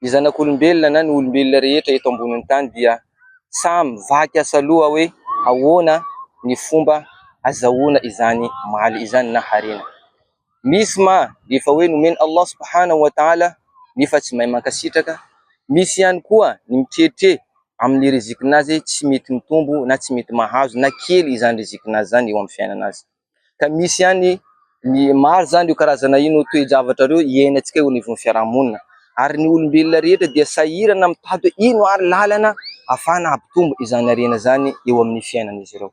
Ny zanak'olombelona na ny olombelona rehetra eto ambonin'ny tany dia samy vaky asaloha hoe ahoana ny fomba azahoana izany maly izany na harena. Misy ma efa hoe nomen' Allah subhanahu wa taala nefa tsy mahay mankasitraka, misy ihany koa ny mitrietrie amin'ny rizikin'azy tsy mety mitombo na tsy mety mahazo na kely izany rizikin'azy izany eo amin'ny fiainana azy. ka misy ihany ny maro izany io karazana io no toe-javatra ireo iainantsika eo anivon'ny fiarahamonina ary ny olombelona rehetra dia sahirana mitady hoe ino ary lalana afahana hampitombo izany harena izany eo amin'ny fiainan'izy ireo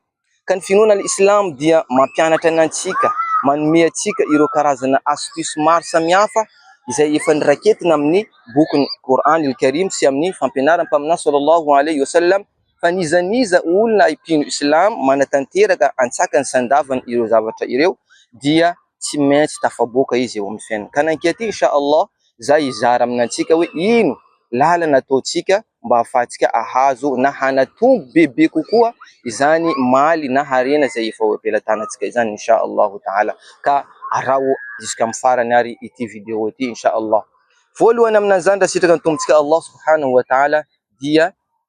ka ny finoana islamo dia mampianatra ny antsika manome antsika ireo karazana astuce maro samihafa izay efa noraketina amin'ny bokin'ny Kor'any al-Karym sy amin'ny fampianaram-paminà Sallallahu alaihi wa sallam Fa n'iza n'iza olona mpino Islamo manatanteraka antsakany sy andavany ireo zavatra ireo dia tsy maintsy tafaboaka izy eo amin'ny fiainany. Ka nankiaty Insha Allah za hizara aminantsika hoe ino lalana ataontsika mba ahafahantsika ahazo na hanatombo bebe kokoa izany maly na harena izay efa eo am-pelatanantsika izany Insha Allah Taala. Ka araho jusqu'amin'ny farany ary ity video ity Insha Allah. Voalohany aminan'izany raha sitraky ny Tompontsika Allah Subhanahu wa Taala dia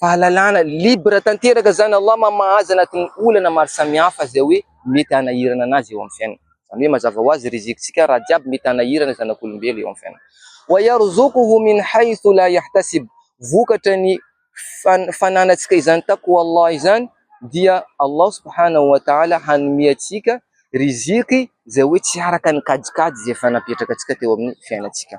fahalalana libre tanteraka izany Allah mamaha azy anatin'ny olana maro samihafa izay hoe mety hanahirana anazy eo amin'ny fiainany izany hoe mazava ho azy rizikitsika raha jiaby mety hanahirana ny zanak'olombelo eo amin'ny fiainany wa yarzuquhu min haythu la yahtasib vokatra ny fananantsika izany taqwa Allah izany dia Allah subhanahu wa ta'ala hanome antsika riziki izay hoe tsy araka ny kajikajy izay efa napetraka antsika teo amin'ny fiainantsika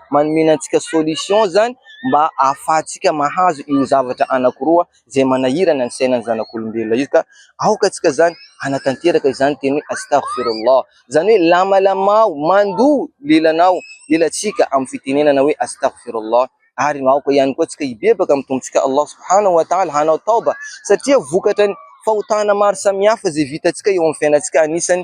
manomena antsika solution izany mba ahafahantsika mahazo io zavatra anankiroa izay manahirana ny sainan'ny zanak'olombelona io ka aoka antsika izany hanatanteraka izany teny hoe astaghfirullah, izany hoe lamalamao, mandoa lelanao, lelantsika amin'ny fitenenana hoe astaghfirullah ary aoka ihany koa antsika hibebaka amin'ny Tompontsika Allah subhanahu wa ta'ala hanao taoba satria vokatry ny fahotana maro samihafa izay vitantsika eo amin'ny fiainantsika anisany.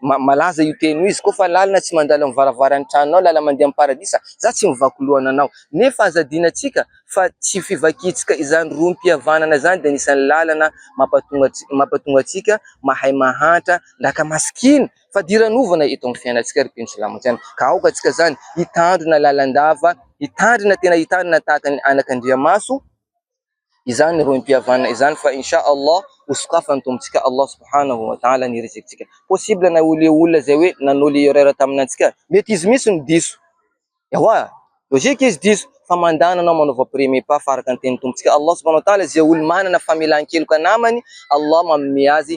Malaza io teny io, izy koa fa lalina tsy mandalo amin'ny varavaran'ny tranonao, lala mandeha amin'ny paradisa, za tsy mivaky loha ananao. Nefa aza adinontsika fa tsy fivakintsika izany rohim-pihavanana izany dia anisan'ny lalana mampatonga antsika mahay mahantra ndaka masikina fadiranovana eto amin'ny fiainantsika ry mpino sy lamonjiana. Ka aoka antsika izany hitandrina lalandava, hitandrina tena hitandrina tahaka ny anak'Andriamaso. izany rohim-pihavanana izany fa in sha Allah ho sokafan'ny Tompontsika Allah subhanahu wa ta'ala ny rizikintsika. Possible na ho leo olona izay hoe nanao le erreur tamina antsika. Mety izy mihitsy no diso. Ewa, logique izy diso fa mandana anao manaova premier pas fa araka ny tenin'ny Tompontsika Allah subhanahu wa ta'ala izay olo manana famelan-keloka namany Allah manome azy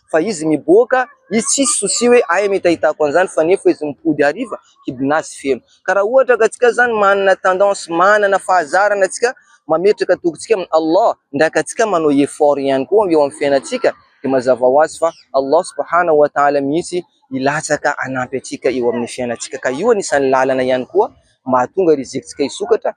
fa izy miboaka izy tsisy souci hoe aiza no hitahitako an'izany fa nefa izy mipody hariva kibon'azy feno ka raha ohatra ka antsika izany manana tendance manana fahazarana antsika mametraka tokintsika amin'i Allah indraindray ka antsika manao effort ihany koa eo amin'ny fiainantsika dia mazava ho azy fa Allah subhana wa ta'ala mihitsy hilatsaka hanampy antsika eo amin'ny fiainantsika ka io anisan'ny lalana ihany koa mahatonga rizikitsika hisokatra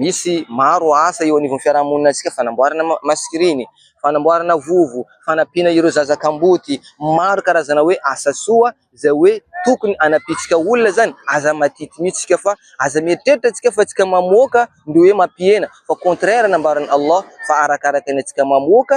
Misy maro asa eo anivon'ny fiarahamoninantsika, fanamboarana maskriny, fanamboarana vovo, fanampiana ireo zaza kamboty. Maro karazana hoe asa soa izay hoe tokony hanampiantsika olona izany. Aza madity mihitsy isika fa aza mieritreritra isika fa isika mamoaka ny hoe mampihena fa "contraire" nambaran'i Allah fa arakaraka ny antsika mamoaka.